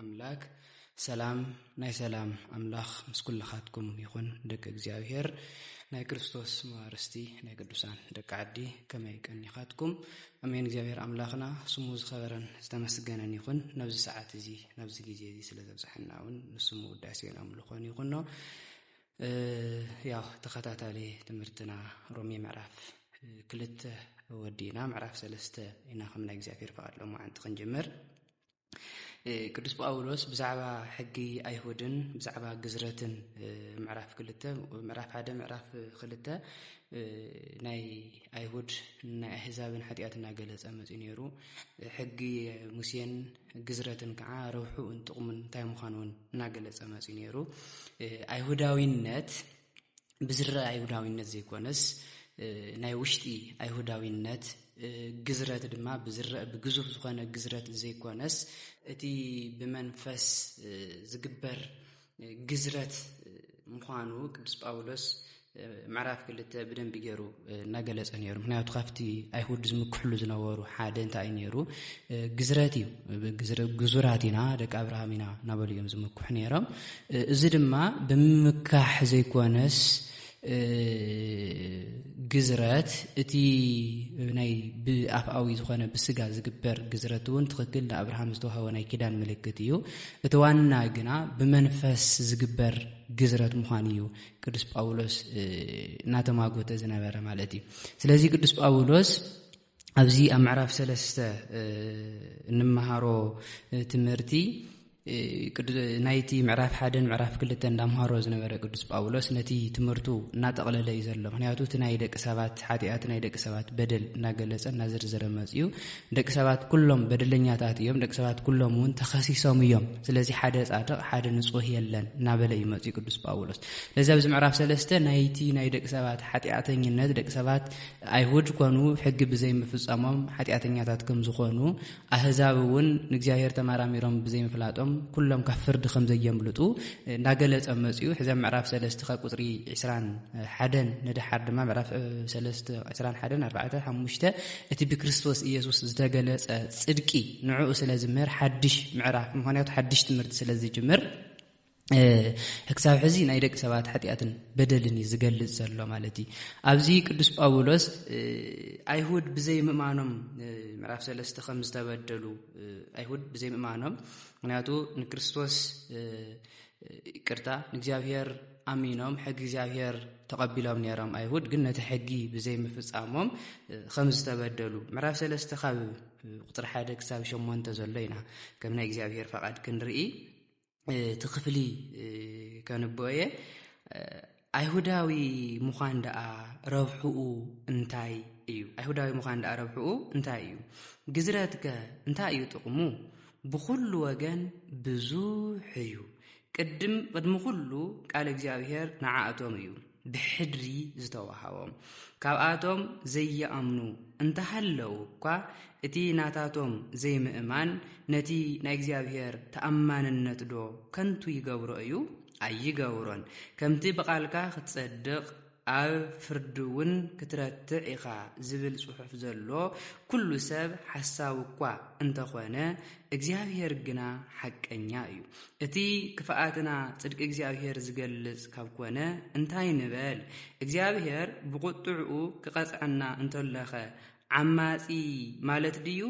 ኣምላክ ሰላም ናይ ሰላም ኣምላኽ ምስ ኩልኻትኩም ይኹን ደቂ እግዚኣብሄር ናይ ክርስቶስ መዋርስቲ ናይ ቅዱሳን ደቂ ዓዲ ከመይ ቀኒኻትኩም ኣሜን እግዚኣብሄር ኣምላኽና ስሙ ዝኸበረን ዝተመስገነን ይኹን ናብዚ ሰዓት እዚ ናብዚ ግዜ እዚ ስለ ዘብፅሐና እውን ንስሙ ውዳሴን ኣምልኾን ይኹኖ ያው ተኸታታሊ ትምህርትና ሮሜ ምዕራፍ ክልተ ወዲእና ምዕራፍ ሰለስተ ኢና ከም ናይ እግዚኣብሄር ፍቓድ ሎማዓንቲ ክንጅምር ቅዱስ ጳውሎስ ብዛዕባ ሕጊ ኣይሁድን ብዛዕባ ግዝረትን ምዕራፍ ክልተ ምዕራፍ ሓደ ምዕራፍ ክልተ ናይ ኣይሁድ ናይ ኣህዛብን ሓጢኣት እናገለፀ መፅኡ ነይሩ ሕጊ ሙሴን ግዝረትን ከዓ ረብሑኡን ጥቕሙን እንታይ ምዃኑ እውን እናገለፀ መፅኡ ነይሩ ኣይሁዳዊነት ብዝረኣ ኣይሁዳዊነት ዘይኮነስ ናይ ውሽጢ ኣይሁዳዊነት ግዝረት ድማ ብዝረአ ብግዙፍ ዝኾነ ግዝረት ዘይኮነስ እቲ ብመንፈስ ዝግበር ግዝረት ምዃኑ ቅዱስ ጳውሎስ ምዕራፍ ክልተ ብደንቢ ገይሩ እናገለፀ ነይሩ ምክንያቱ ካብቲ ኣይሁድ ዝምክሕሉ ዝነበሩ ሓደ እንታይ እዩ ነይሩ ግዝረት እዩ ግዙራት ኢና ደቂ ኣብርሃም ኢና እናበሉ እዮም ዝምክሑ ነይሮም እዚ ድማ ብምምካሕ ዘይኮነስ ግዝረት እቲ ናይ ብኣፍኣዊ ዝኾነ ብስጋ ዝግበር ግዝረት እውን ትኽክል ንኣብርሃም ዝተዋህወ ናይ ኪዳን ምልክት እዩ እቲ ዋና ግና ብመንፈስ ዝግበር ግዝረት ምዃን እዩ ቅዱስ ጳውሎስ እናተማጎተ ዝነበረ ማለት እዩ ስለዚ ቅዱስ ጳውሎስ ኣብዚ ኣብ ምዕራፍ ሰለስተ እንመሃሮ ትምህርቲ ናይቲ ምዕራፍ ሓደን ምዕራፍ ክልተ እንዳምሃሮ ዝነበረ ቅዱስ ጳውሎስ ነቲ ትምህርቱ እናጠቕለለ እዩ ዘሎ ምክንያቱ እቲ ናይ ደቂ ሰባት ሓጢኣት ናይ ደቂ ሰባት በደል እናገለፀ እናዘርዘረ መፅኡ ደቂ ሰባት ኩሎም በደለኛታት እዮም፣ ደቂ ሰባት ኩሎም እውን ተኸሲሶም እዮም፣ ስለዚ ሓደ ጻድቕ ሓደ ንጹህ የለን እናበለ እዩ መጺኡ ቅዱስ ጳውሎስ። ስለዚ ኣብዚ ምዕራፍ ሰለስተ ናይቲ ናይ ደቂ ሰባት ሓጢኣተኝነት ደቂ ሰባት ኣይሁድ ኮኑ ሕጊ ብዘይምፍጻሞም ሓጢኣተኛታት ከም ዝኾኑ ኣህዛብ እውን ንእግዚኣብሔር ተመራሚሮም ብዘይምፍላጦም ኩሎም ካብ ፍርዲ ከም ዘየምልጡ እናገለጸ መጺኡ ሕዘ ምዕራፍ ሰለስተ ካብ ቁጽሪ 21 ንደሓር ድማ ምዕራፍ ሰለስተ 21 4 5 እቲ ብክርስቶስ ኢየሱስ ዝተገለጸ ጽድቂ ንዕኡ ስለ ዝምህር ሓድሽ ምዕራፍ ምክንያቱ ሓድሽ ትምህርቲ ስለ ዝጅምር ክሳብ ሕዚ ናይ ደቂ ሰባት ሓጢኣትን በደልን እዩ ዝገልጽ ዘሎ ማለት እዩ ኣብዚ ቅዱስ ጳውሎስ ኣይሁድ ብዘይ ምእማኖም ምዕራፍ ሰለስተ ከም ዝተበደሉ ኣይሁድ ብዘይ ምእማኖም ምክንያቱ ንክርስቶስ ይቅርታ ንእግዚኣብሔር ኣሚኖም ሕጊ እግዚኣብሔር ተቐቢሎም ነይሮም ኣይሁድ ግን ነቲ ሕጊ ብዘይምፍፃሞም ከም ዝተበደሉ ምዕራፍ ሰለስተ ካብ ቁፅሪ ሓደ ክሳብ ሸሞንተ ዘሎ ኢና ከም ናይ እግዚኣብሔር ፈቓድ ክንርኢ እቲ ክፍሊ ከንብኦ እየ ኣይሁዳዊ ምዃን ደኣ ረብሕኡ እንታይ እዩ? ኣይሁዳዊ ምዃን ደኣ ረብሕኡ እንታይ እዩ? ግዝረትከ እንታይ እዩ ጥቕሙ? ብዅሉ ወገን ብዙሕ እዩ። ቅድም ቅድሚ ዅሉ ቃል እግዚኣብሔር ንዓኣቶም እዩ ብሕድሪ ዝተዋሃቦም። ካብኣቶም ዘይኣምኑ እንተሃለዉ እኳ እቲ ናታቶም ዘይምእማን ነቲ ናይ እግዚኣብሔር ተኣማንነትዶ ከንቱ ይገብሮ እዩ? ኣይገብሮን። ከምቲ ብቓልካ ኽትጸድቕ፣ ኣብ ፍርዲውን ክትረትዕ ኢኻ ዝብል ጽሑፍ ዘሎ፣ ኵሉ ሰብ ሓሳዊ እኳ እንተ ዀነ፣ እግዚኣብሄር ግና ሓቀኛ እዩ። እቲ ክፍኣትና ጽድቂ እግዚኣብሄር ዚገልጽ ካብ ኰነ፣ እንታይ ንበል? እግዚኣብሄር ብቝጥዕኡ ኺቐጽዐና እንተሎኸ ዓማጺ ማለት ድዩ?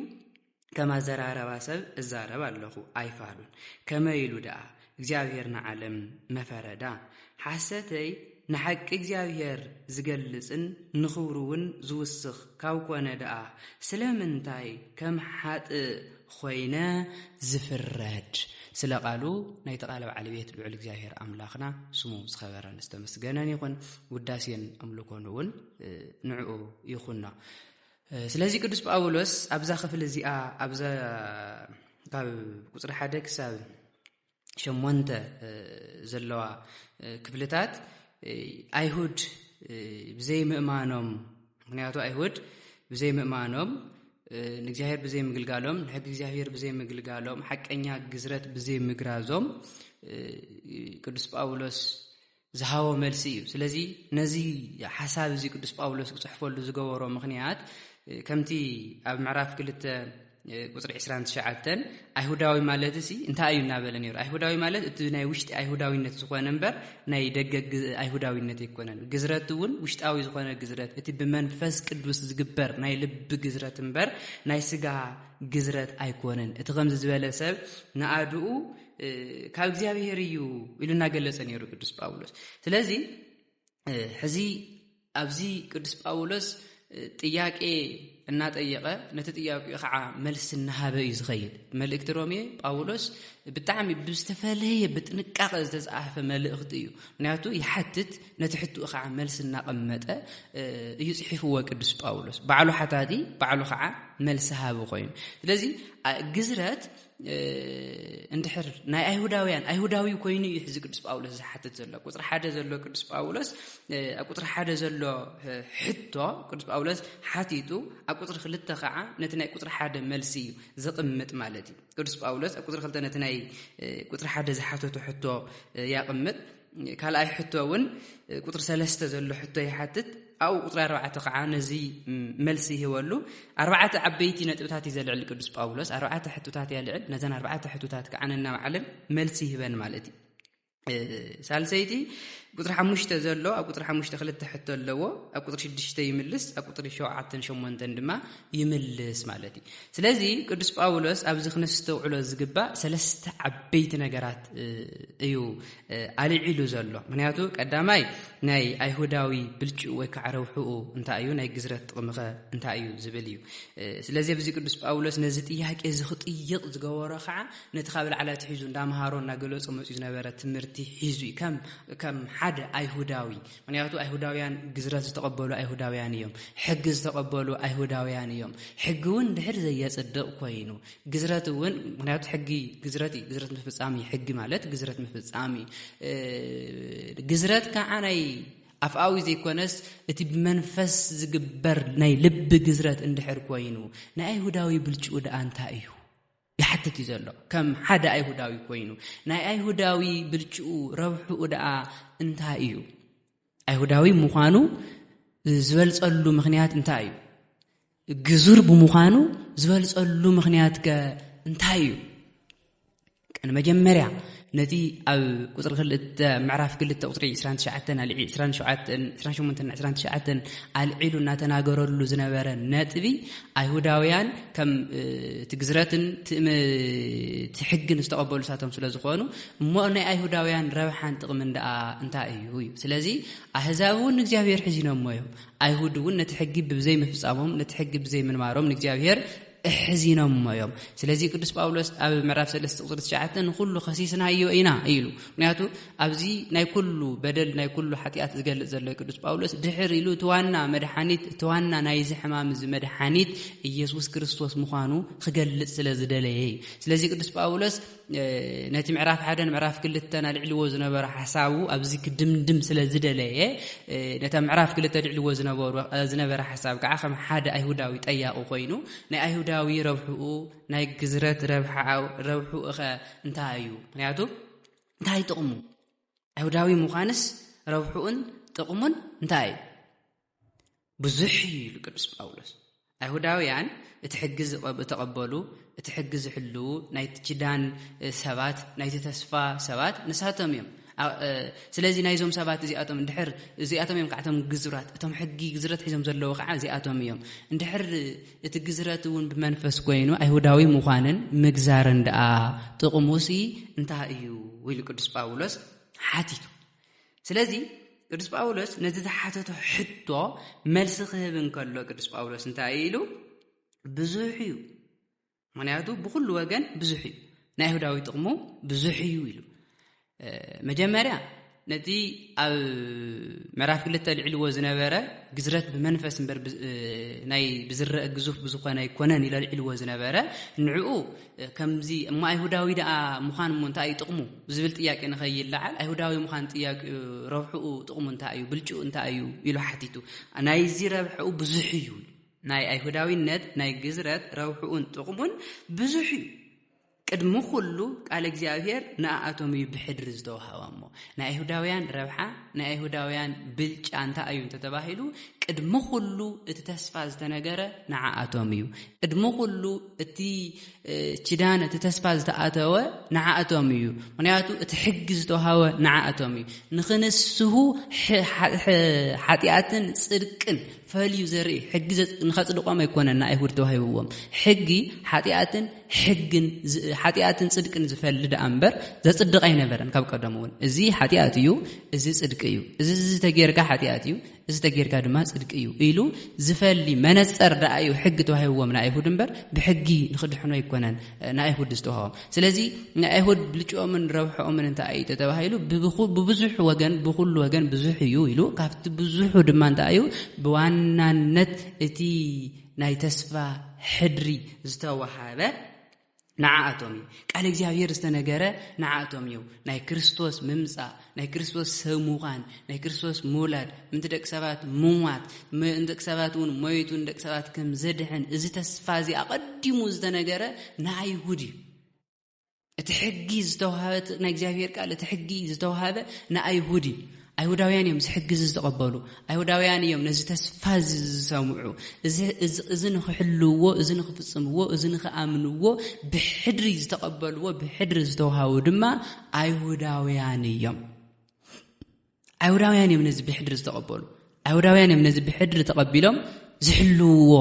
ከም ኣዘራረባ ሰብ እዛረብ ኣለኹ ኣይፋሉን ከመይ ኢሉ ደኣ እግዚኣብሔር ንዓለም መፈረዳ ሓሰተይ ንሓቂ እግዚኣብሔር ዝገልጽን ንኽብሩ እውን ዝውስኽ ካብ ኮነ ደኣ ስለምንታይ ከም ሓጥእ ኾይነ ዝፍረድ ስለ ቃሉ ናይቲ ቃል በዓል ቤት ልዑል እግዚኣብሔር ኣምላኽና ስሙ ዝኸበረን ዝተመስገነን ይኹን ውዳሴን ኣምልኮን እውን ንዕኡ ይኹኖ ስለዚ ቅዱስ ጳውሎስ ኣብዛ ክፍሊ እዚኣ ኣብዛ ካብ ቁፅሪ ሓደ ክሳብ ሸሞንተ ዘለዋ ክፍልታት ኣይሁድ ብዘይ ምእማኖም ምክንያቱ ኣይሁድ ብዘይ ምእማኖም ንእግዚኣብሔር ብዘይ ምግልጋሎም ንሕጊ እግዚኣብሔር ብዘይ ምግልጋሎም ሓቀኛ ግዝረት ብዘይ ምግራዞም ቅዱስ ጳውሎስ ዝሃቦ መልሲ እዩ። ስለዚ ነዚ ሓሳብ እዚ ቅዱስ ጳውሎስ ክጽሕፈሉ ዝገበሮ ምኽንያት ከምቲ ኣብ ምዕራፍ ክልተ ቁፅሪ 29 ኣይሁዳዊ ማለት ሲ እንታይ እዩ እናበለ ነይሩ? ኣይሁዳዊ ማለት እቲ ናይ ውሽጢ ኣይሁዳዊነት ዝኾነ እምበር ናይ ደገ ኣይሁዳዊነት ኣይኮነን። ግዝረት እውን ውሽጣዊ ዝኾነ ግዝረት እቲ ብመንፈስ ቅዱስ ዝግበር ናይ ልቢ ግዝረት እምበር ናይ ስጋ ግዝረት ኣይኮነን። እቲ ከምዚ ዝበለ ሰብ ንኣድኡ ካብ እግዚኣብሄር እዩ ኢሉ እናገለጸ ነይሩ ቅዱስ ጳውሎስ ስለዚ ሕዚ ኣብዚ ቅዱስ ጳውሎስ ጥያቄ እናጠየቐ ነቲ ጥያቄ ከዓ መልሲ እናሃበ እዩ ዝኸይድ መልእክቲ ሮሜ ጳውሎስ ብጣዕሚ ብዝተፈለየ ብጥንቃቐ ዝተፃሓፈ መልእኽቲ እዩ ምክንያቱ ይሓትት ነቲ ሕትኡ ከዓ መልሲ እናቐመጠ እዩ ፅሒፍዎ ቅዱስ ጳውሎስ ባዕሉ ሓታቲ ባዕሉ ከዓ መልሲ ሃቢ ኮይኑ ስለዚ ግዝረት እንድሕር ናይ ኣይሁዳውያን ኣይሁዳዊ ኮይኑ እዩ ሕዚ ቅዱስ ጳውሎስ ዝሓትት ዘሎ ቁፅሪ ሓደ ዘሎ ቅዱስ ጳውሎስ ኣብ ቁፅሪ ሓደ ዘሎ ሕቶ ቅዱስ ጳውሎስ ሓቲቱ ኣብ ቁፅሪ ክልተ ከዓ ነቲ ናይ ቁፅሪ ሓደ መልሲ እዩ ዝቕምጥ ማለት እዩ ቅዱስ ጳውሎስ ኣብ ቁፅሪ ክልተ ነቲ ናይ ቁፅሪ ሓደ ዝሓተቱ ሕቶ ያቕምጥ ካልኣይ ሕቶ እውን ቁፅሪ ሰለስተ ዘሎ ሕቶ ይሓትት ኣብኡ ቁፅሪ ኣርባዕተ ከዓ ነዚ መልሲ ይህበሉ ኣርባዕተ ዓበይቲ ነጥብታት እዩ ዘልዕል ቅዱስ ጳውሎስ ኣርባዕተ ሕቶታት እያ ልዕል ነዘን ኣርባዕተ ሕቶታት ከዓ ነናባዕለን መልሲ ይህበን ማለት እዩ ሳልሰይቲ ቁፅሪ ሓሙሽተ ዘሎ ኣብ ቁፅሪ ሓሙሽተ ክልተ ሕቶ ኣለዎ ኣብ ቁፅሪ ሽዱሽተ ይምልስ ኣብ ቁፅሪ ሸውዓተን ሸሞንተን ድማ ይምልስ ማለት እዩ ስለዚ ቅዱስ ጳውሎስ ኣብዚ ክነስተውዕሎ ዝግባእ ሰለስተ ዓበይቲ ነገራት እዩ ኣልዒሉ ዘሎ ምክንያቱ ቀዳማይ ናይ ኣይሁዳዊ ብልጭኡ ወይ ከዓ ረውሕኡ እንታይ እዩ ናይ ግዝረት ጥቕምኸ እንታይ እዩ ዝብል እዩ ስለዚ ኣብዚ ቅዱስ ጳውሎስ ነዚ ጥያቄ እዚ ክጥይቕ ዝገበሮ ከዓ ነቲ ካብ ላዕላ ትሒዙ እንዳምሃሮ እናገለፆ መፅኡ ዝነበረ ትምህርቲ ሒዙ እዩ ከም ሓደ ኣይሁዳዊ ምክንያቱ ኣይሁዳውያን ግዝረት ዝተቐበሉ ኣይሁዳውያን እዮም። ሕጊ ዝተቐበሉ ኣይሁዳውያን እዮም። ሕጊ እውን ድሕር ዘየጽድቕ ኮይኑ ግዝረት እውን ምክንያቱ ሕጊ ግዝረት እዩ። ግዝረት ምፍጻም እዩ። ሕጊ ማለት ግዝረት ምፍጻም እዩ። ግዝረት ከዓ ናይ ኣፍኣዊ ዘይኮነስ እቲ ብመንፈስ ዝግበር ናይ ልቢ ግዝረት እንድሕር ኮይኑ ናይ ኣይሁዳዊ ብልጭኡ ደኣ እንታይ እዩ? ይሓትት እዩ ዘሎ ከም ሓደ ኣይሁዳዊ ኮይኑ ናይ ኣይሁዳዊ ብልጭኡ ረብሕኡ ደኣ እንታይ እዩ ኣይሁዳዊ ምዃኑ ዝበልጸሉ ምኽንያት እንታይ እዩ ግዙር ብምዃኑ ዝበልጸሉ ምኽንያት ከ እንታይ እዩ ቀን መጀመርያ ነቲ ኣብ ቁፅሪ ክልተ ምዕራፍ ክልተ ቁፅሪ ዕስራን ትሽዓተን ኣልዒ ዕስራን ሸውዓተን ዕስራን ሸሞንተን ዕስራን ትሽዓተን ኣልዒሉ እናተናገረሉ ዝነበረ ነጥቢ ኣይሁዳውያን ከም እ፣ እቲ ግዝረትን እቲ እም- እቲ ሕግን ዝተቐበሉ ንሳቶም ስለ ዝኾኑ እሞ ናይ ኣይሁዳውያን ረብሓን ጥቕምን ደኣ እንታይ እዩ እዩ ስለዚ ኣህዛብ እውን ንእግዚኣብሔር ሕዚኖሞ እዮም ኣይሁድ እውን ነቲ ሕጊ ብዘይምፍፃሞም ነቲ ሕጊ ብዘይምንባሮም ንእግዚኣብሔር እሕዚኖሞ እዮም ስለዚ ቅዱስ ጳውሎስ ኣብ ምዕራፍ ሰለስተ ቁፅሪ ትሽዓተ ንኩሉ ከሲስናዮ ኢና ኢሉ ምክንያቱ ኣብዚ ናይ ኩሉ በደል ናይ ኩሉ ሓጢኣት ዝገልፅ ዘሎ ቅዱስ ጳውሎስ ድሕር ኢሉ እቲ ዋና መድሓኒት እቲ ዋና ናይዚ ሕማም እዚ መድሓኒት ኢየሱስ ክርስቶስ ምዃኑ ክገልፅ ስለ ዝደለየ እዩ ስለዚ ቅዱስ ጳውሎስ ነቲ ምዕራፍ ሓደን ምዕራፍ ክልተን ኣልዕልዎ ዝነበረ ሓሳቡ ኣብዚ ክድምድም ስለ ዝደለየ ነታ ምዕራፍ ክልተ ኣልዕልዎ ዝነበረ ሓሳብ ከዓ ከም ሓደ ኣይሁዳዊ ጠያቑ ኮይኑ ናይ ኣይሁዳዊ ረብሕኡ ናይ ግዝረት ረብሕኡኸ እንታይ እዩ ምክንያቱ እንታይ ጥቕሙ ኣይሁዳዊ ምዃንስ ረብሕኡን ጥቕሙን እንታይ እዩ ብዙሕ እዩ ኢሉ ቅዱስ ጳውሎስ። ኣይሁዳውያን እቲ ሕጊ ዝተቐበሉ፣ እቲ ሕጊ ዝሕልዉ፣ ናይቲ ኪዳን ሰባት፣ ናይቲ ተስፋ ሰባት ንሳቶም እዮም። ስለዚ ናይዞም ሰባት እዚኣቶም እንድሕር እዚኣቶም እዮም ከዓ እቶም ግዝራት እቶም ሕጊ ግዝረት ሒዞም ዘለዉ ከዓ እዚኣቶም እዮም እንድሕር እቲ ግዝረት እውን ብመንፈስ ኮይኑ ኣይሁዳዊ ምዃንን ምግዛርን ደኣ ጥቕሙሲ እንታይ እዩ ኢሉ ቅዱስ ጳውሎስ ሓቲቱ ስለዚ ቅዱስ ጳውሎስ ነዚ ዝሓተቶ ሕቶ መልሲ ክህብ እንከሎ ቅዱስ ጳውሎስ እንታይ እዩ ኢሉ ብዙሕ እዩ ምክንያቱ ብኩሉ ወገን ብዙሕ እዩ ናይ ይሁዳዊ ጥቕሙ ብዙሕ እዩ ኢሉ መጀመርያ ነቲ ኣብ ምዕራፍ ክልተ ልዕልዎ ዝነበረ ግዝረት ብመንፈስ እበር ናይ ብዝረአ ግዙፍ ብዝኾነ ኣይኮነን ኢለ ልዕልዎ ዝነበረ ንዕኡ ከምዚ እሞ ኣይሁዳዊ ደኣ ምዃን እሞ እንታይ እዩ ጥቕሙ ዝብል ጥያቄ ንኸይለዓል ኣይሁዳዊ ምዃን ጥያቄኡ ረብሕኡ ጥቕሙ እንታይ እዩ ብልጭኡ እንታይ እዩ ኢሉ ሓቲቱ ናይዚ ረብሕኡ ብዙሕ እዩ ናይ ኣይሁዳዊነት ናይ ግዝረት ረብሕኡን ጥቕሙን ብዙሕ እዩ ቅድሚ ኩሉ ቃል እግዚኣብሄር ንኣኣቶም እዩ ብሕድሪ ዝተዋሃባ እሞ ናይ ኣይሁዳውያን ረብሓ ናይ ኣይሁዳውያን ብልጫ እንታይ እዩ እንተተባሂሉ ቅድሚ ኩሉ እቲ ተስፋ ዝተነገረ ንዓኣቶም እዩ ቅድሚ ኩሉ እቲ ኪዳን እቲ ተስፋ ዝተኣተወ ንዓእቶም እዩ ምክንያቱ እቲ ሕጊ ዝተውሃወ ንዓእቶም እዩ ንክንስሁ ሓጢኣትን ፅድቅን ፈልዩ ዘርኢ ሕጊ ንኸፅድቆም ኣይኮነን ንኣይሁድ ተዋሂብዎም ሕጊ ሓጢኣትን ሕግን ሓጢኣትን ፅድቅን ዝፈሊ ደኣ እምበር ዘፅድቕ ኣይነበረን ካብ ቀደም እውን እዚ ሓጢኣት እዩ እዚ ፅድቂ እዩ እዚ ዝተጌርካ ሓጢኣት እዩ እዚ ተጌርካ ድማ ጽድቂ እዩ ኢሉ ዝፈሊ መነጸር ደኣ እዩ ሕጊ ተዋሂብዎም ንኣይሁድ እምበር ብሕጊ ንክድሕኑ ኣይኮነን ንኣይሁድ ዝተዋህቦም ስለዚ ንኣይሁድ ብልጭኦምን ረብሐኦምን እንታይ እዩ ተተባሂሉ ብብዙሕ ወገን ብኩሉ ወገን ብዙሕ እዩ ኢሉ ካብቲ ብዙሑ ድማ እንታይ እዩ ብዋናነት እቲ ናይ ተስፋ ሕድሪ ዝተዋሃበ ንዓኣቶም እዩ ቃል እግዚኣብሔር ዝተነገረ ንዓኣቶም እዩ ናይ ክርስቶስ ምምፃእ ናይ ክርስቶስ ሰብ ምዃን ናይ ክርስቶስ ምውላድ ምንቲ ደቂ ሰባት ምሟት ምእንቲ ደቂ ሰባት እውን ሞይቱ ንደቂ ሰባት ከም ዘድሕን እዚ ተስፋ እዚ ኣቐዲሙ ዝተነገረ ንኣይሁድ እዩ እቲ ሕጊ ዝተዋሃበ ናይ እግዚኣብሔር ቃል እቲ ሕጊ ዝተዋሃበ ንኣይሁድ እዩ ኣይሁዳውያን እዮም እዚ ሕጊ እዚ ዝተቐበሉ። ኣይሁዳውያን እዮም ነዚ ተስፋ እዚ ዝሰምዑ። እዚ እዚ ንኽሕልውዎ፣ እዚ ንኽፍጽምዎ፣ እዚ ንኽኣምንዎ ብሕድሪ ዝተቐበልዎ፣ ብሕድሪ ዝተውሃቡ ድማ ኣይሁዳውያን እዮም። ኣይሁዳውያን እዮም ነዚ ብሕድሪ ዝተቐበሉ። ኣይሁዳውያን እዮም ነዚ ብሕድሪ ተቐቢሎም ዝሕልውዎ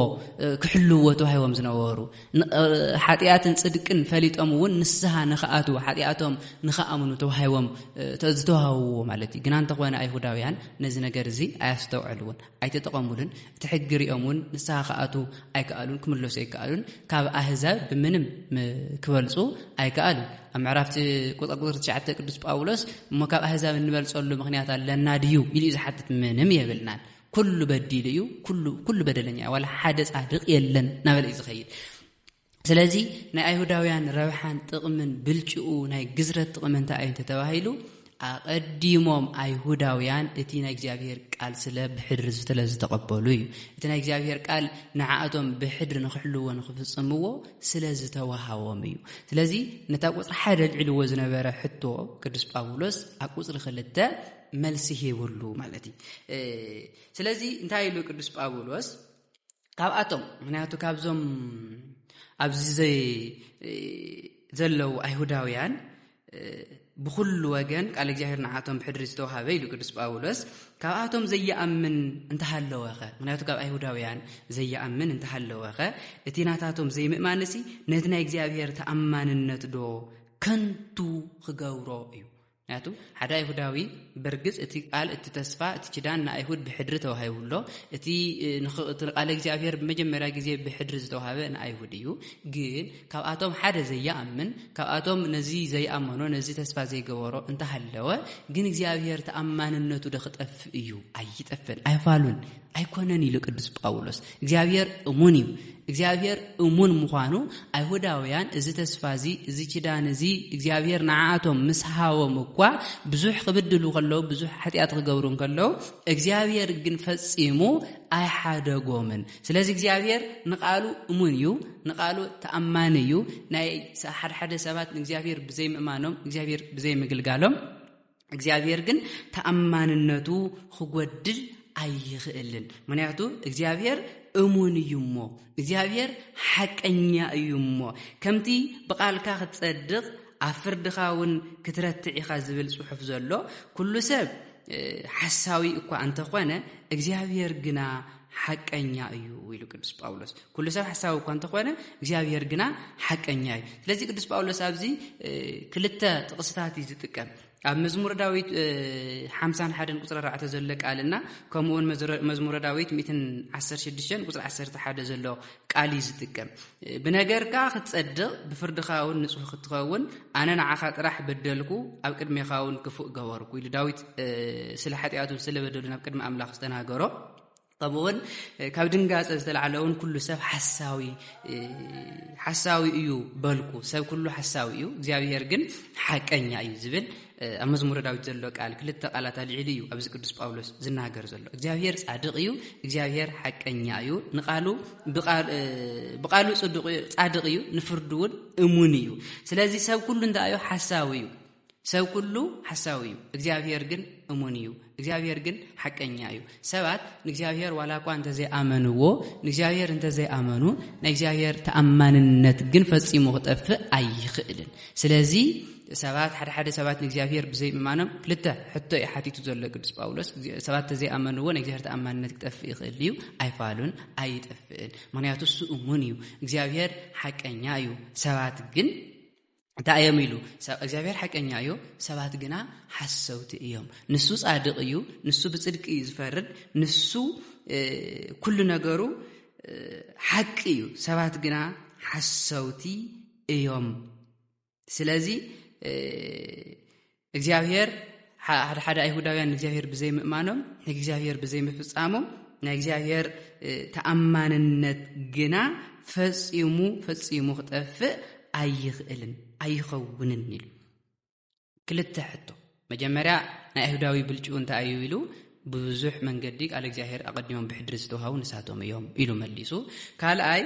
ክሕልውዎ ተዋሂቦም ዝነበሩ ሓጢኣትን ጽድቅን ፈሊጦም እውን ንስሃ ንክኣትዉ ሓጢኣቶም ንክኣምኑ ተዋሂቦም ዝተዋህብዎ ማለት እዩ ግና እንተኾነ ኣይሁዳውያን ነዚ ነገር እዚ ኣያስተውዐልዎን ኣይተጠቐሙሉን እቲ ሕጊ ሪኦም እውን ንስሃ ክኣትዉ ኣይከኣሉን ክምለሱ ኣይከኣሉን ካብ ኣህዛብ ብምንም ክበልፁ ኣይከኣሉን ኣብ ምዕራፍቲ ቁጥር ቁጥር ትሽዓተ ቅዱስ ጳውሎስ እሞ ካብ ኣህዛብ እንበልፀሉ ምክንያት ኣለና ድዩ ኢሉ እዩ ዝሓትት ምንም የብልናን ኩሉ በዲሉ እዩ፣ ኩሉ በደለኛ እዩ፣ ዋላ ሓደ ጻድቕ የለን እናበለ እዩ ዝኸይድ። ስለዚ ናይ ኣይሁዳውያን ረብሓን ጥቕምን ብልጭኡ ናይ ግዝረት ጥቕሚ እንታይ እዩ እንተተባሂሉ ኣቐዲሞም ኣይሁዳውያን እቲ ናይ እግዚኣብሄር ቃል ስለ ብሕድሪ ዝተለ ዝተቐበሉ እዩ እቲ ናይ እግዚኣብሄር ቃል ንዓእቶም ብሕድሪ ንክሕልዎ ንክፍጽምዎ ስለ ዝተዋሃቦም እዩ ስለዚ ነታ ቁፅሪ ሓደ ልዕልዎ ዝነበረ ሕቶ ቅዱስ ጳውሎስ ኣብ ቁፅሪ ክልተ መልሲ ሂብሉ ማለት እዩ ስለዚ እንታይ ኢሉ ቅዱስ ጳውሎስ ካብኣቶም ምክንያቱ ካብዞም ኣብዚ ዘይ ዘለዉ ኣይሁዳውያን ብኩሉ ወገን ቃል እግዚኣብሔር ንዓቶም ብሕድሪ ዝተዋሃበ ኢሉ ቅዱስ ጳውሎስ ካብኣቶም ዘየኣምን እንተሃለወኸ ምክንያቱ ካብ ኣይሁዳውያን ዘየኣምን እንተሃለወኸ እቲ ናታቶም ዘይምእማንሲ ነቲ ናይ እግዚኣብሔር ተኣማንነት ዶ ከንቱ ክገብሮ እዩ ምክንያቱ ሓደ ኣይሁዳዊ በርግጽ እቲ ቃል እቲ ተስፋ እቲ ኪዳን ንኣይሁድ ብሕድሪ ተዋሂቡ ኣሎ እቲ ቃል እግዚኣብሔር ብመጀመርያ ግዜ ብሕድሪ ዝተዋሃበ ንኣይሁድ እዩ ግን ካብኣቶም ሓደ ዘይኣምን ካብኣቶም ነዚ ዘይኣመኖ ነዚ ተስፋ ዘይገበሮ እንተሃለወ ግን እግዚኣብሔር ተኣማንነቱ ዶ ክጠፍእ እዩ ኣይጠፍን ኣይፋሉን ኣይኮነን ኢሉ ቅዱስ ጳውሎስ። እግዚኣብሔር እሙን እዩ። እግዚኣብሔር እሙን ምዃኑ ኣይሁዳውያን እዚ ተስፋ እዚ እዚ ኪዳን እዚ እግዚኣብሔር ንዓኣቶም ምስ ሃቦም እኳ ብዙሕ ክብድሉ ከለዉ ብዙሕ ሓጢኣት ክገብሩ እንከለዉ እግዚኣብሔር ግን ፈጺሙ ኣይሓደጎምን። ስለዚ እግዚኣብሔር ንቓሉ እሙን እዩ፣ ንቓሉ ተኣማኒ እዩ። ናይ ሓድሓደ ሰባት ንእግዚኣብሔር ብዘይምእማኖም እግዚኣብሔር ብዘይምግልጋሎም እግዚኣብሔር ግን ተኣማንነቱ ክጎድል ኣይኽእልን ምክንያቱ እግዚኣብሔር እሙን እዩ እሞ እግዚኣብሔር ሓቀኛ እዩ እሞ ከምቲ ብቓልካ ክትጸድቕ ኣብ ፍርድኻ እውን ክትረትዕ ኢኻ ዝብል ጽሑፍ ዘሎ ኩሉ ሰብ ሓሳዊ እኳ እንተኾነ እግዚኣብሔር ግና ሓቀኛ እዩ ኢሉ ቅዱስ ጳውሎስ ኩሉ ሰብ ሓሳዊ እኳ እንተኾነ እግዚኣብሄር ግና ሓቀኛ እዩ ስለዚ ቅዱስ ጳውሎስ ኣብዚ ክልተ ጥቕስታት እዩ ዝጥቀም ኣብ መዝሙረ ዳዊት ሓምሳን ሓደን ቁፅሪ ኣርባዕተ ዘሎ ቃል እና ከምኡውን መዝሙረ ዳዊት ሚትን ዓሰርተ ሽዱሽተን ቁፅሪ ዓሰርተ ሓደ ዘሎ ቃል እዩ ዝጥቀም ብነገርካ ክትፀድቕ ብፍርድኻ እውን ንፁህ ክትኸውን ኣነ ንዓኻ ጥራሕ በደልኩ ኣብ ቅድሜኻ እውን ክፉእ ገበርኩ ኢሉ ዳዊት ስለ ሓጢኣቱ ስለ በደሉ ናብ ቅድሚ ኣምላኽ ዝተናገሮ ከምኡውን ካብ ድንጋፀ ዝተላዓለ ውን ኩሉ ሰብ ሓሳዊ ሓሳዊ እዩ በልኩ ሰብ ኩሉ ሓሳዊ እዩ እግዚኣብሄር ግን ሓቀኛ እዩ ዝብል ኣብ መዝሙረ ዳዊት ዘሎ ቃል ክልተ ቃላት ኣልዒሉ እዩ ኣብዚ ቅዱስ ጳውሎስ ዝናገር ዘሎ እግዚኣብሄር ጻድቕ እዩ እግዚኣብሄር ሓቀኛ እዩ ንቃሉ ብቃሉ ጻድቕ እዩ ንፍርዱ እውን እሙን እዩ ስለዚ ሰብ ኩሉ እንታይ እዩ ሓሳዊ እዩ ሰብ ኩሉ ሓሳዊ እዩ እግዚኣብሄር ግን እሙን እዩ እግዚኣብሄር ግን ሓቀኛ እዩ ሰባት ንእግዚኣብሄር ዋላ እኳ እንተዘይኣመንዎ ንእግዚኣብሄር እንተዘይኣመኑ ናይ እግዚኣብሄር ተኣማንነት ግን ፈጺሙ ክጠፍእ ኣይኽእልን ስለዚ ሰባት ሓደ ሓደ ሰባት ንእግዚኣብሄር ብዘይምእማኖም ክልተ ሕቶ እዩ ሓቲቱ ዘሎ ቅዱስ ጳውሎስ ሰባት እንተዘይኣመንዎ ናይ እግዚኣብሄር ተኣማንነት ክጠፍእ ይኽእል እዩ ኣይፋሉን ኣይጠፍእን ምክንያቱ እሱ እሙን እዩ እግዚኣብሄር ሓቀኛ እዩ ሰባት ግን እንታይ እዮም ኢሉ እግዚኣብሔር ሓቀኛ እዩ ሰባት ግና ሓሰውቲ እዮም ንሱ ጻድቅ እዩ ንሱ ብጽድቂ እዩ ዝፈርድ ንሱ ኩሉ ነገሩ ሓቂ እዩ ሰባት ግና ሓሰውቲ እዮም ስለዚ እግዚኣብሄር ሓደ ሓደ ኣይሁዳውያን ንእግዚኣብሄር ብዘይምእማኖም ንእግዚኣብሄር ብዘይምፍጻሞም ናይ እግዚኣብሄር ተኣማንነት ግና ፈጺሙ ፈጺሙ ክጠፍእ ኣይኽእልን ኣይኸውንን ኢሉ ክልተ ሕቶ መጀመርያ ናይ ኣይሁዳዊ ብልጭኡ እንታይ እዩ ኢሉ ብብዙሕ መንገዲ ቃል እግዚኣብሄር ኣቐዲሞም ብሕድሪ ዝተውሃቡ ንሳቶም እዮም ኢሉ መሊሱ ካልኣይ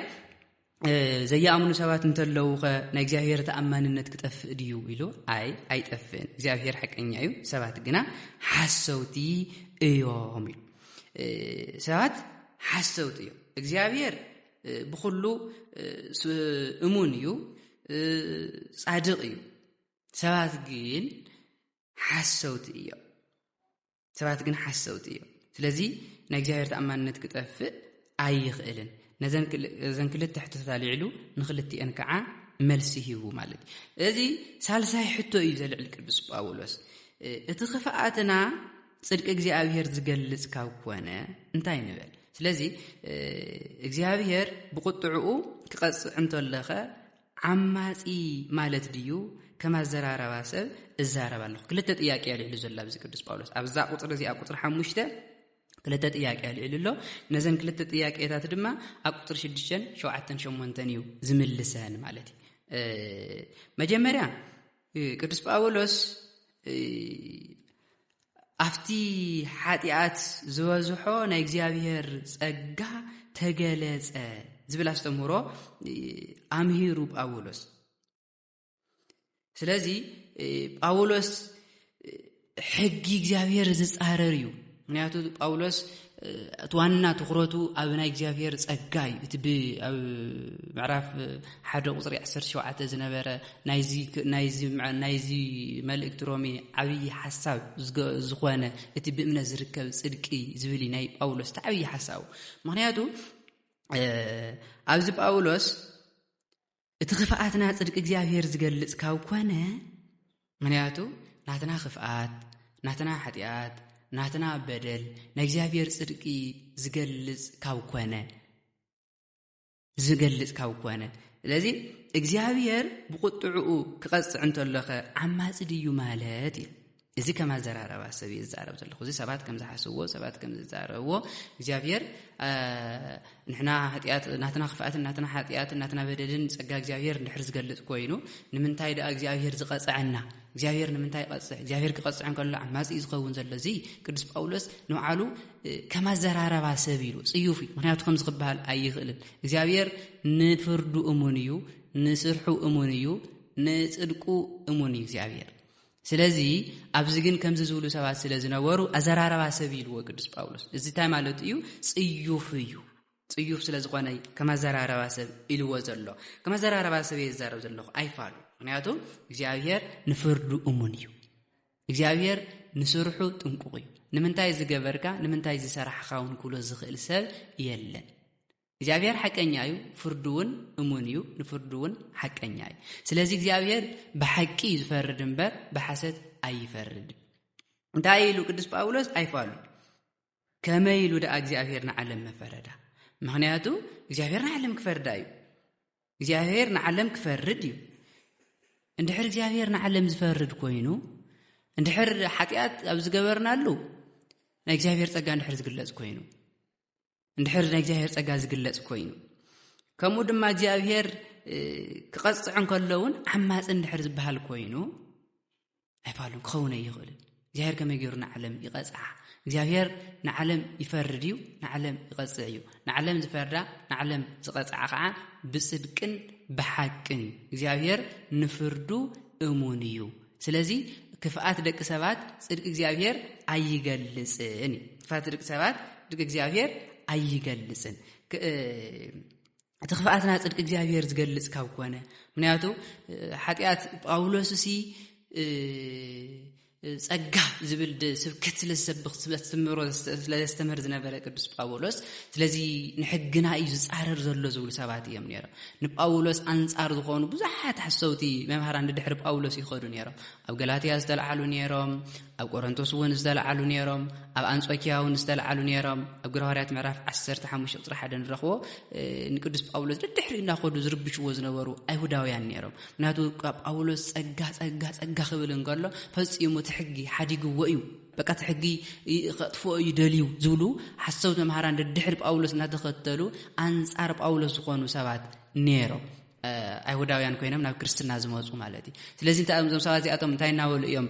ዘያኣምኑ ሰባት እንተለዉኸ ናይ እግዚኣብሔር ተኣማንነት ክጠፍእ ድዩ ኢሉ ኣይ ኣይጠፍእን እግዚኣብሔር ሓቀኛ እዩ ሰባት ግና ሓሰውቲ እዮም ኢሉ ሰባት ሓሰውቲ እዮም እግዚኣብሔር ብኩሉ እሙን እዩ ጻድቅ እዩ ሰባት ግን ሓሰውቲ እዮም ሰባት ግን ሓሰውቲ እዮም ስለዚ ናይ እግዚኣብሔር ተኣማንነት ክጠፍእ ኣይኽእልን ነዘን ክልተ ሕቶታት ኣልዕሉ ንክልትኤን ከዓ መልሲ ሂቡ ማለት እዩ እዚ ሳልሳይ ሕቶ እዩ ዘልዕል ቅዱስ ጳውሎስ እቲ ክፍኣትና ፅድቂ እግዚኣብሔር ዝገልፅ ካብ ኮነ እንታይ ንበል ስለዚ እግዚኣብሔር ብቁጥዕኡ ክቐፅዕ እንተለኸ ዓማጺ ማለት ድዩ ከም ኣዘራረባ ሰብ እዛረብ ኣለኹ ክልተ ጥያቄ ኣልዕሉ ዘሎ ኣብዚ ቅዱስ ጳውሎስ ኣብዛ ቁፅሪ እዚኣ ቁፅሪ ሓሙሽተ ክልተ ጥያቄ ኣልዒሉ ኣሎ ነዘን ክልተ ጥያቄታት ድማ ኣብ ቁፅሪ ሽዱሽተን ሸውዓተን ሸሞንተን እዩ ዝምልሰን ማለት እዩ መጀመርያ ቅዱስ ጳውሎስ ኣብቲ ሓጢኣት ዝበዝሖ ናይ እግዚኣብሔር ጸጋ ተገለጸ ዝብል ኣስተምህሮ ኣምሂሩ ጳውሎስ ስለዚ ጳውሎስ ሕጊ እግዚኣብሔር ዝጻረር እዩ ምክንያቱ ጳውሎስ እቲ ዋና ትኩረቱ ኣብ ናይ እግዚኣብሄር ጸጋ እዩ እቲ ብኣብ ምዕራፍ ሓደ ቁፅሪ 17 ዝነበረ ናይዚ መልእክቲ ሮሜ ዓብዪ ሓሳብ ዝኾነ እቲ ብእምነት ዝርከብ ጽድቂ ዝብል ናይ ጳውሎስ እቲ ዓብዪ ሓሳቡ ምክንያቱ ኣብዚ ጳውሎስ እቲ ክፍኣትና ጽድቂ እግዚኣብሔር ዝገልጽ ካብ ኮነ፣ ምክንያቱ ናትና ክፍኣት፣ ናትና ሓጢኣት፣ ናትና በደል ናይ እግዚኣብሔር ጽድቂ ዝገልጽ ካብ ኮነ ዝገልጽ ካብ ኮነ ስለዚ እግዚኣብሔር ብቁጥዕኡ ክቐጽዕ እንተሎኸ ዓማጺ ድዩ ማለት እዩ እዚ ከም ኣዘራረባ ሰብ እየ ዝዛረብ ዘለኹ እዚ ሰባት ከም ዝሓስብዎ ሰባት ከም ዝዛረብዎ እግዚኣብሔር ንሕና ሃጢኣት ናትና ክፍኣትን ናትና ሓጢኣትን ናትና በደልን ፀጋ እግዚኣብሔር ንድሕር ዝገልፅ ኮይኑ ንምንታይ ደኣ እግዚኣብሔር ዝቐፅዐና እግዚኣብሔር ንምንታይ ይቐፅዕ እግዚኣብሔር ክቐፅዕ እንከሎ ዓማፂ እዩ ዝኸውን ዘሎ እዚ ቅዱስ ጳውሎስ ንባዕሉ ከም ኣዘራረባ ሰብ ኢሉ ፅዩፍ እዩ ምክንያቱ ከምዚ ክበሃል ኣይኽእልን እግዚኣብሔር ንፍርዱ እሙን እዩ ንስርሑ እሙን እዩ ንፅድቁ እሙን እዩ እግዚኣብሔር ስለዚ ኣብዚ ግን ከምዚ ዝብሉ ሰባት ስለ ዝነበሩ ኣዘራርባ ሰብ ኢልዎ ቅዱስ ጳውሎስ እዚ እንታይ ማለቱ እዩ ጽዩፍ እዩ ጽዩፍ ስለ ዝኾነ ከም ኣዘራረባ ሰብ ኢልዎ ዘሎ ከም ኣዘራረባ ሰብ እየ ዝዛረብ ዘለኹ ኣይፋሉ ምክንያቱ እግዚኣብሄር ንፍርዱ እሙን እዩ እግዚኣብሄር ንስርሑ ጥንቁቕ እዩ ንምንታይ ዝገበርካ ንምንታይ ዝሰራሕኻ እውን ክብሎ ዝኽእል ሰብ የለን እግዚኣብሔር ሓቀኛ እዩ ፍርዱ እውን እሙን እዩ ንፍርዱ እውን ሓቀኛ እዩ ስለዚ እግዚኣብሔር ብሓቂ እዩ ዝፈርድ እምበር ብሓሰት ኣይፈርድ እንታይ ኢሉ ቅዱስ ጳውሎስ ኣይፋሉ ከመይ ኢሉ ደኣ እግዚኣብሔር ንዓለም መፈረዳ ምክንያቱ እግዚኣብሔር ንዓለም ክፈርዳ እዩ እግዚኣብሔር ንዓለም ክፈርድ እዩ እንድሕር እግዚኣብሔር ንዓለም ዝፈርድ ኮይኑ እንድሕር ሓጢኣት ኣብ ዝገበርናሉ ናይ እግዚኣብሔር ፀጋ እንድሕር ዝግለፅ ኮይኑ እንድሕር ናይ እግዚኣብሔር ጸጋ ዝግለጽ ኮይኑ ከምኡ ድማ እግዚኣብሔር ክቐጽዕ እንከሎ እውን ዓማፂ እንድሕር ዝበሃል ኮይኑ ኣይባሉን ክኸውን ኣይኽእልን እግዚኣብሔር ከመይ ገይሩ ንዓለም ይቐጽዓ እግዚኣብሔር ንዓለም ይፈርድ እዩ ንዓለም ይቐጽዕ እዩ ንዓለም ዝፈርዳ ንዓለም ዝቐጽዓ ከዓ ብፅድቅን ብሓቅን እግዚኣብሔር ንፍርዱ እሙን እዩ ስለዚ ክፍኣት ደቂ ሰባት ጽድቂ እግዚኣብሔር ኣይገልጽን እዩ። ክፍኣት ደቂ ሰባት ጽድቂ እግዚኣብሔር ኣይገልጽን እቲ ክፍኣትና ጽድቂ እግዚኣብሔር ዝገልጽ ካብ ኮነ ምክንያቱ ሓጢኣት ጳውሎስ እሲ ጸጋ ዝብል ስብከት ስለዝሰብኽ ስለዝትምህሮ ስለዘስተምህር ዝነበረ ቅዱስ ጳውሎስ ስለዚ ንሕግና እዩ ዝጻረር ዘሎ ዝብሉ ሰባት እዮም ነይሮም ንጳውሎስ ኣንጻር ዝኾኑ ብዙሓት ሓሰውቲ መምሃራን ድድሕሪ ጳውሎስ ይኸዱ ነይሮም። ኣብ ገላትያ ዝተልዓሉ ነይሮም፣ ኣብ ቆረንቶስ እውን ዝተልዓሉ ነይሮም፣ ኣብ ኣንጾኪያ እውን ዝተልዓሉ ነይሮም። ኣብ ግብረ ሃዋርያት ምዕራፍ 15 ቁጽሪ ሓደ ንረኽቦ ንቅዱስ ጳውሎስ ድድሕሪ እናኸዱ ዝርብሽዎ ዝነበሩ ኣይሁዳውያን ነይሮም። ምክንያቱ ጳውሎስ ጸጋ ጸጋ ጸጋ ክብል እንከሎ ፈጺሙ እቲ ሕጊ ሓዲግዎ እዩ። በቃ እቲ ሕጊ ከጥፍኦ እዩ ደልዩ ዝብሉ ሓሰውቲ መምሃራን ደድሕሪ ጳውሎስ እናተኸተሉ ኣንጻር ጳውሎስ ዝኾኑ ሰባት ነይሮም ኣይሁዳውያን ኮይኖም ናብ ክርስትና ዝመፁ ማለት እዩ ስለዚ እንታይ እዮም እዞም ሰባት እዚኣቶም እንታይ እናበሉ እዮም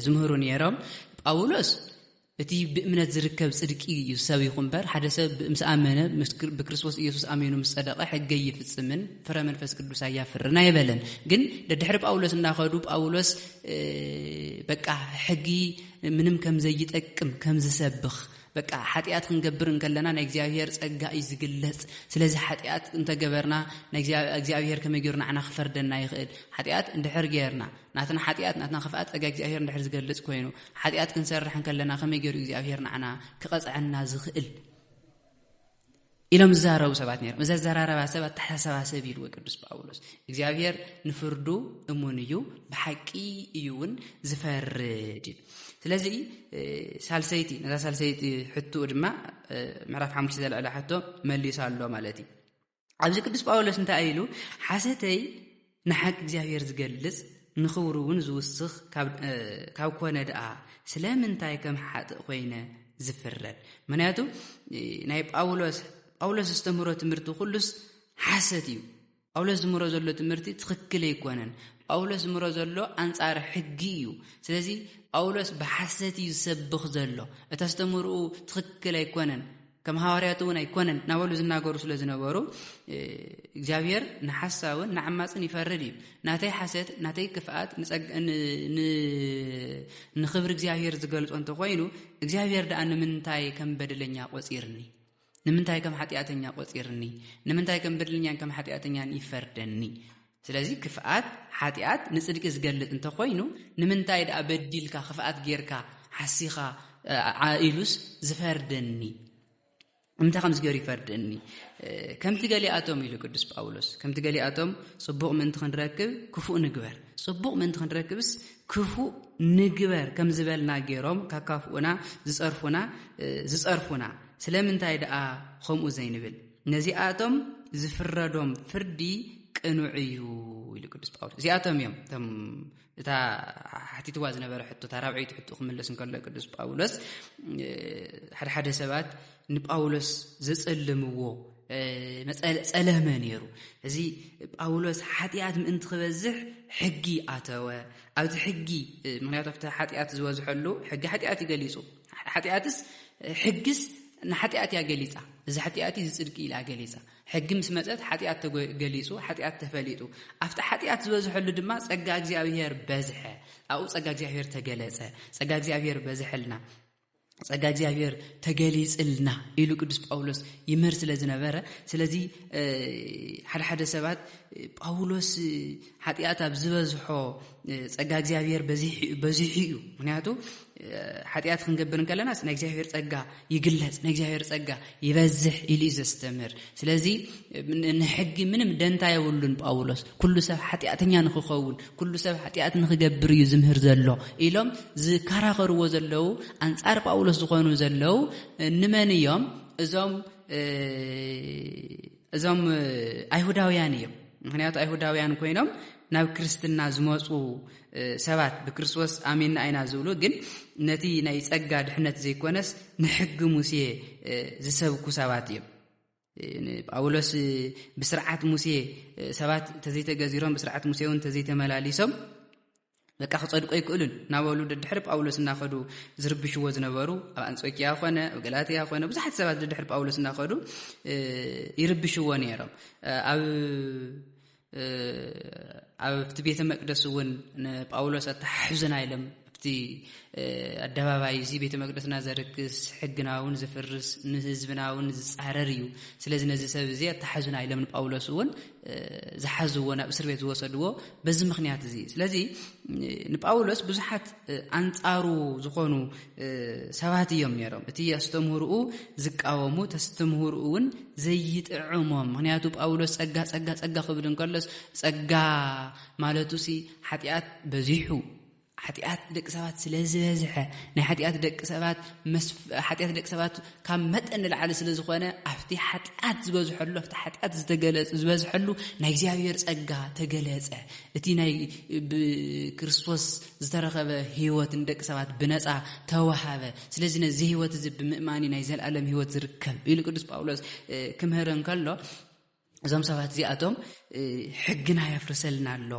ዝምህሩ ነይሮም ጳውሎስ እቲ ብእምነት ዝርከብ ጽድቂ እዩ ዝሰብይኹ እምበር ሓደ ሰብ ምስ ኣመነ ብክርስቶስ ኢየሱስ ኣሚኑ ምስ ጸደቐ ሕገ ይፍጽምን ፍረ መንፈስ ቅዱስ ኣያፍርን ኣይበለን። ግን ደድሕሪ ጳውሎስ እናኸዱ ጳውሎስ በቃ ሕጊ ምንም ከም ዘይጠቅም ከም ዝሰብኽ በቃ ሓጢኣት ክንገብር እንከለና ናይ እግዚኣብሄር ጸጋ እዩ ዝግለጽ ስለዚ ሓጢኣት እንተገበርና እግዚኣብሄር ከመይ ገይሩ ንዓና ክፈርደና ይኽእል ሓጢኣት እንድሕር ገይርና ናትና ሓጢኣት ናትና ክፍኣ ጸጋ እግዚኣብሄር እንድሕር ዝገልጽ ኮይኑ ሓጢኣት ክንሰርሕ እንከለና ከመይ ገይሩ እግዚኣብሄር ንዓና ክቐጽዐና ዝኽእል ኢሎም ዝዛረቡ ሰባት ነይሮም እዚ ኣዘራረባ ሰብ ኣተሓሳሰባ ሰብ ኢልዎ ቅዱስ ጳውሎስ እግዚኣብሔር ንፍርዱ እሙን እዩ ብሓቂ እዩ እውን ዝፈርድ እዩ ስለዚ ሳልሰይቲ ነዛ ሳልሰይቲ ሕትኡ ድማ ምዕራፍ ሓሙሽተ ዘልዕለ ሕቶ መሊሱ ኣሎ ማለት እዩ ኣብዚ ቅዱስ ጳውሎስ እንታይ ኢሉ ሓሰተይ ንሓቂ እግዚኣብሔር ዝገልጽ ንኽብሩውን ዝውስኽ ካብ ኮነ ደኣ ስለምንታይ ከም ሓጥእ ኮይነ ዝፍረድ ምክንያቱ ናይ ጳውሎስ ጳውሎስ ዘስተምህሮ ትምህርቲ ኩሉስ ሓሰት እዩ ጳውሎስ ዝምህሮ ዘሎ ትምህርቲ ትኽክል ኣይኮነን ጳውሎስ ዝምህሮ ዘሎ ኣንጻር ሕጊ እዩ ስለዚ ጳውሎስ ብሓሰት እዩ ዝሰብኽ ዘሎ እቲ ኣስተምህርኡ ትኽክል ኣይኮነን ከም ሃዋርያት እውን ኣይኮነን እናበሉ ዝናገሩ ስለ ዝነበሩ እግዚኣብሔር ንሓሳውን ንዓማፅን ይፈርድ እዩ ናተይ ሓሰት ናተይ ክፍኣት ንኽብሪ እግዚኣብሔር ዝገልፆ እንተኮይኑ እግዚኣብሔር ደኣ ንምንታይ ከም በደለኛ ቆፂርኒ ንምንታይ ከም ሓጢኣተኛ ቆፂርኒ ንምንታይ ከም በደለኛን ከም ሓጢኣተኛን ይፈርደኒ ስለዚ ክፍኣት፣ ሓጢኣት፣ ንጽድቂ ዝገልጽ እንተ ኾይኑ፣ ንምንታይ ደኣ በዲልካ፣ ክፍኣት ጌርካ፣ ሓሲኻ፣ ዓ ኢሉስ ዝፈርደኒ? እምንታይ ከምዚ ገሩ ይፈርደኒ? ከምቲ ገሊኣቶም ኢሉ ቅዱስ ጳውሎስ፣ ከምቲ ገሊኣቶም ጽቡቕ ምእንቲ ክንረክብ ክፉእ ንግበር፣ ጽቡቕ ምእንቲ ክንረክብስ ክፉእ ንግበር ከም ዝበልና ጌሮም ካካፍኡና ዝጸርፉና ዝጸርፉና ስለምንታይ ደኣ ከምኡ ዘይንብል? ነዚኣቶም ዝፍረዶም ፍርዲ ቅኑዕ እዩ ኢሉ ቅዱስ ጳውሎስ እዚኣቶም እዮም እቶም እታ ሓቲትዋ ዝነበረ ሕቶ እታ ራብዐይቲ ሕቶ ክምለስ እንከሎ ቅዱስ ጳውሎስ ሓደ ሓደ ሰባት ንጳውሎስ ዘጸልምዎ ጸለመ ነይሩ እዚ ጳውሎስ ሓጢኣት ምእንቲ ክበዝሕ ሕጊ ኣተወ ኣብዚ ሕጊ ምክንያቱ ኣብቲ ሓጢኣት ዝበዝሐሉ ሕጊ ሓጢኣት ይገሊጹ ሓጢኣትስ ሕግስ ንሓጢኣት እያ ገሊጻ እዚ ሓጢኣት እዚ ጽድቂ ኢላ ገሊጻ ሕጊ ምስ መጸት ሓጢኣት ተገሊጹ ሓጢኣት ተፈሊጡ ኣብቲ ሓጢኣት ዝበዝሐሉ ድማ ጸጋ እግዚኣብሄር በዝሐ ኣብኡ ጸጋ እግዚኣብሄር ተገለጸ ጸጋ እግዚኣብሄር በዝሐልና ጸጋ እግዚኣብሄር ተገሊጽልና ኢሉ ቅዱስ ጳውሎስ ይምህር ስለ ዝነበረ ስለዚ ሓደሓደ ሰባት ጳውሎስ ሓጢኣት ኣብ ዝበዝሖ ጸጋ እግዚኣብሔር በዚሑ እዩ ምክንያቱ ሓጢኣት ክንገብር እንከለናስ ናይ እግዚኣብሔር ጸጋ ይግለጽ ናይ እግዚኣብሔር ጸጋ ይበዝሕ ኢሉ እዩ ዘስተምህር ስለዚ ንሕጊ ምንም ደንታ የብሉን ጳውሎስ ኩሉ ሰብ ሓጢኣተኛ ንክኸውን ኩሉ ሰብ ሓጢኣት ንክገብር እዩ ዝምህር ዘሎ ኢሎም ዝከራኸርዎ ዘለዉ ኣንጻር ጳውሎስ ዝኾኑ ዘለዉ ንመን እዮም እዞም እዞም ኣይሁዳውያን እዮም ምክንያቱ ኣይሁዳውያን ኮይኖም ናብ ክርስትና ዝመፁ ሰባት ብክርስቶስ ኣሚና ኣይና ዝብሉ ግን ነቲ ናይ ፀጋ ድሕነት ዘይኮነስ ንሕጊ ሙሴ ዝሰብኩ ሰባት እዮም ጳውሎስ ብስርዓት ሙሴ ሰባት ተዘይተገዚሮም ብስርዓት ሙሴ እውን ተዘይተመላሊሶም በቃ ክጸድቁ ኣይክእሉን እናበሉ ደድሕሪ ጳውሎስ እናኸዱ ዝርብሽዎ ዝነበሩ ኣብ ኣንጾኪያ ኮነ ኣብ ገላትያ ኮነ ብዙሓት ሰባት ደድሕሪ ጳውሎስ እናኸዱ ይርብሽዎ ነይሮም ኣብ ኣብቲ ቤተ መቅደስ እውን ንጳውሎስ ኣተሓሕዙና ኢሎም ኣብቲ ኣደባባይ እዚ ቤተ መቅደስና ዘርክስ ሕግና እውን ዝፍርስ ንህዝብና እውን ዝፃረር እዩ ስለዚ ነዚ ሰብ እዚ ኣተሓዙና ኢሎም ንጳውሎስ እውን ዝሓዝዎ ናብ እስር ቤት ዝወሰድዎ በዚ ምክንያት እዚ እዩ ስለዚ ንጳውሎስ ብዙሓት ኣንጻሩ ዝኾኑ ሰባት እዮም ነይሮም እቲ ኣስተምህርኡ ዝቃወሙ ተስተምህርኡ እውን ዘይጥዕሞም ምክንያቱ ጳውሎስ ጸጋ ጸጋ ጸጋ ክብል እንከሎስ ጸጋ ማለቱ ሲ ሓጢኣት በዚሑ ሓጢኣት ደቂ ሰባት ስለ ዝበዝሐ ናይ ሓጢኣት ደቂ ሰባት ሓጢኣት ደቂ ሰባት ካብ መጠን ንላዕሊ ስለ ዝኾነ ኣብቲ ሓጢኣት ዝበዝሐሉ ኣብቲ ሓጢኣት ዝተገለጹ ዝበዝሐሉ ናይ እግዚኣብሔር ጸጋ ተገለጸ እቲ ናይ ብክርስቶስ ዝተረኸበ ህይወት ንደቂ ሰባት ብነፃ ተዋሃበ ስለዚ ነዚ ህይወት እዚ ብምእማኒ ናይ ዘለኣለም ህይወት ዝርከብ ኢሉ ቅዱስ ጳውሎስ ክምህር እንከሎ እዞም ሰባት እዚኣቶም ሕግና የፍርሰልና ኣሎ፣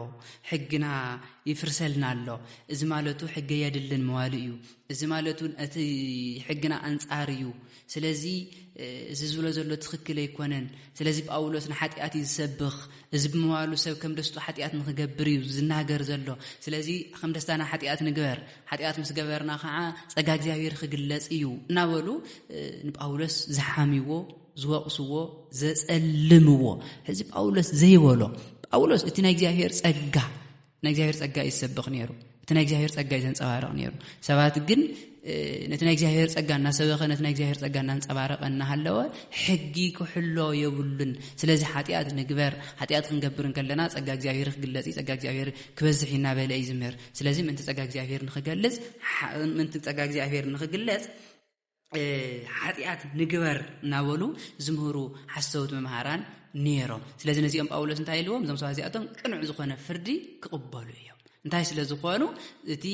ሕግና ይፍርሰልና ኣሎ፣ እዚ ማለቱ ሕገ የድልን መዋሉ እዩ፣ እዚ ማለቱ እቲ ሕግና ኣንጻር እዩ፣ ስለዚ እዚ ዝብሎ ዘሎ ትኽክል ኣይኮነን፣ ስለዚ ጳውሎስ ንሓጢኣት እዩ ዝሰብኽ፣ እዚ ብምባሉ ሰብ ከም ደስቱ ሓጢኣት ንኽገብር እዩ ዝናገር ዘሎ፣ ስለዚ ከም ደስታና ሓጢኣት ንግበር፣ ሓጢኣት ምስ ገበርና ከዓ ጸጋ እግዚኣብሔር ክግለጽ እዩ እናበሉ ንጳውሎስ ዝሓምይዎ ዝወቕስዎ ዘጸልምዎ እዚ ጳውሎስ ዘይበሎ ጳውሎስ እቲ ናይ እግዚኣብሔር ጸጋ ናይ እግዚኣብሔር ጸጋ እዩ ዝሰብኽ ነይሩ እቲ ናይ እግዚኣብሔር ጸጋ እዩ ዘንጸባርቕ ነይሩ ሰባት ግን ነቲ ናይ እግዚኣብሔር ጸጋ እናሰበኸ ነቲ ናይ እግዚኣብሔር ጸጋ እናንጸባረቐ እናሃለወ ሕጊ ክሕሎ የብሉን ስለዚ ሓጢኣት ንግበር ሓጢኣት ክንገብር እንከለና ጸጋ እግዚኣብሔር ክግለጽ እዩ ጸጋ እግዚኣብሔር ክበዝሕ እናበለ እዩ ዝምህር ስለዚ ምእንቲ ጸጋ እግዚኣብሔር ንክገልጽ ምእንቲ ጸጋ እግዚኣብሔር ንክግለጽ ሓጢኣት ንግበር እናበሉ ዝምህሩ ሓሰውት መምሃራን ነይሮም ስለዚ ነዚኦም ጳውሎስ እንታይ ኢልዎም እዞም ሰባት እዚኣቶም ቅኑዕ ዝኾነ ፍርዲ ክቕበሉ እዮም እንታይ ስለ ዝኾኑ እቲ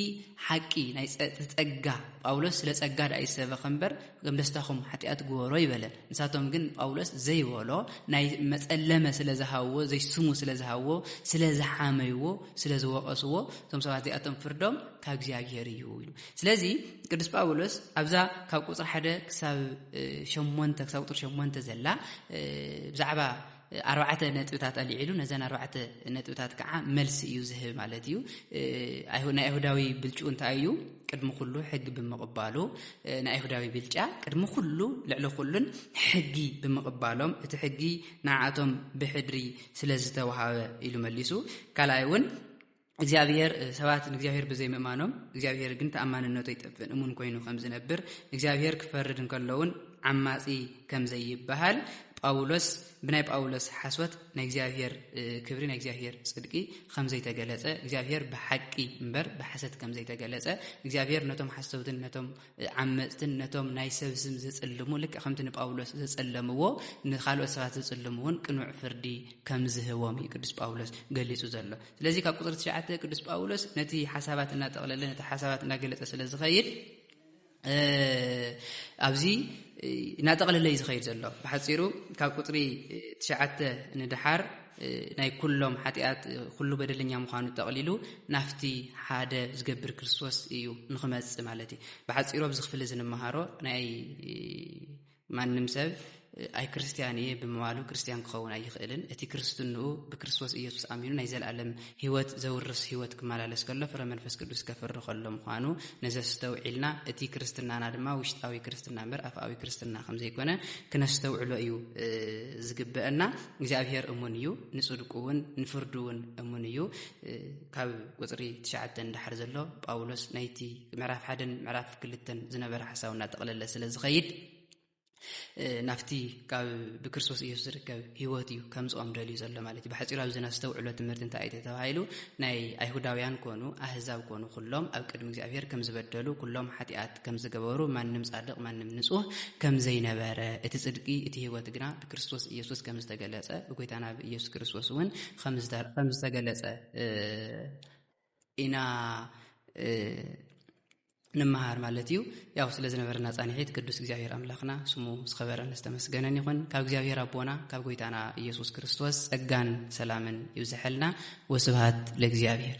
ሓቂ ናይ ጸጋ ጳውሎስ ስለ ጸጋ ድኣ ይሰበኸ እምበር ከም ደስታኹም ሓጢኣት ግበሮ ይበለ ንሳቶም ግን ጳውሎስ ዘይበሎ ናይ መጸለመ ስለ ዝሃብዎ ዘይስሙ ስለ ዝሃብዎ ስለ ዝሓመይዎ ስለ ዝወቐስዎ እቶም ሰባት እዚኣቶም ፍርዶም ካብ እግዚኣብሄር እዩ ኢሉ ስለዚ ቅዱስ ጳውሎስ ኣብዛ ካብ ቁጽሪ ሓደ ክሳብ ሸሞንተ ክሳብ ቁጽሪ ሸሞንተ ዘላ ብዛዕባ ኣርባዕተ ነጥብታት ኣልዒሉ ነዘን ኣርባዕተ ነጥብታት ከዓ መልሲ እዩ ዝህብ ማለት እዩ ናይ ኣይሁዳዊ ብልጩ እንታይ እዩ ቅድሚ ኩሉ ሕጊ ብምቕባሉ ናይ ኣይሁዳዊ ብልጫ ቅድሚ ኩሉ ልዕሊ ኩሉን ሕጊ ብምቕባሎም እቲ ሕጊ ንዓቶም ብሕድሪ ስለ ዝተውሃበ ኢሉ መሊሱ ካልኣይ እውን እግዚኣብሄር ሰባት ንእግዚኣብሄር ብዘይ ምእማኖም እግዚኣብሄር ግን ተኣማንነቱ ኣይጠፍእን እሙን ኮይኑ ከም ዝነብር ንእግዚኣብሄር ክፈርድ እንከሎ እውን ዓማጺ ከም ዘይበሃል ጳውሎስ ብናይ ጳውሎስ ሓስወት ናይ እግዚኣብሄር ክብሪ ናይ እግዚኣብሄር ጽድቂ ከም ዘይተገለጸ እግዚኣብሄር ብሓቂ እምበር ብሓሰት ከም ዘይተገለጸ እግዚኣብሄር ነቶም ሓሰውትን ነቶም ዓመፅትን ነቶም ናይ ሰብ ስም ዝጽልሙ ልክዕ ከምቲ ንጳውሎስ ዘጸለምዎ ንካልኦት ሰባት ዝጽልሙ እውን ቅኑዕ ፍርዲ ከም ዝህቦም እዩ ቅዱስ ጳውሎስ ገሊጹ ዘሎ ስለዚ ካብ ቁፅሪ ትሽዓተ ቅዱስ ጳውሎስ ነቲ ሓሳባት እናጠቕለለ ነቲ ሓሳባት እናገለጸ ስለ ዝኸይድ ኣብዚ እናጠቕለለ እዩ ዝኸይድ ዘሎ ብሓፂሩ ካብ ቁፅሪ ትሽዓተ ንድሓር ናይ ኩሎም ሓጢኣት ኩሉ በደለኛ ምዃኑ ጠቕሊሉ ናፍቲ ሓደ ዝገብር ክርስቶስ እዩ ንክመጽእ ማለት እዩ ብሓፂሮ ኣብዚ ክፍሊ እዚ ንመሃሮ ናይ ማንም ሰብ ኣይ ክርስትያን እየ ብምባሉ ክርስትያን ክኸውን ኣይኽእልን እቲ ክርስትንኡ ብክርስቶስ ኢየሱስ ኣሚኑ ናይ ዘለኣለም ሕይወት ዘውርስ ሕይወት ክመላለስ ከሎ ፍረ መንፈስ ቅዱስ ከፍሪ ከሎ ምዃኑ ነዚ ኣስተውዒልና እቲ ክርስትናና ድማ ውሽጣዊ ክርስትና እምበር ኣፍኣዊ ክርስትና ከም ዘይኮነ ክነስተውዕሎ እዩ ዝግበአና። እግዚኣብሔር እሙን እዩ፣ ንጽድቁ እውን ንፍርዱ እውን እሙን እዩ። ካብ ቁጽሪ ትሽዓተ ንደሓር ዘሎ ጳውሎስ ናይቲ ምዕራፍ ሓደን ምዕራፍ ክልተን ዝነበረ ሓሳብ እናጠቕለለ ስለ ዝኸይድ ናብቲ ካብ ብክርስቶስ ኢየሱስ ዝርከብ ህይወት እዩ ከምፅኦም ደልዩ ዘሎ ማለት እዩ ብሓፂሩ ኣብዚ ናስተውዕሎ ትምህርቲ እንታይ እዩ ተባሂሉ ናይ ኣይሁዳውያን ኮኑ ኣህዛብ ኮኑ ኩሎም ኣብ ቅድሚ እግዚኣብሔር ከም ዝበደሉ ኩሎም ሓጢኣት ከም ዝገበሩ ማንም ፃድቕ ማንም ንፁህ ከም ዘይነበረ እቲ ፅድቂ እቲ ህይወት ግና ብክርስቶስ ኢየሱስ ከም ዝተገለፀ ብጎይታና ብኢየሱስ ክርስቶስ እውን ከም ዝተገለፀ ኢና ንመሃር ማለት እዩ ያው ስለ ዝነበረና ፃንሒት ቅዱስ እግዚኣብሔር ኣምላኽና ስሙ ዝኸበረን ዝተመስገነን ይኹን ካብ እግዚኣብሔር ኣቦና ካብ ጎይታና ኢየሱስ ክርስቶስ ጸጋን ሰላምን ይብዝሐልና ወስብሃት ለእግዚኣብሔር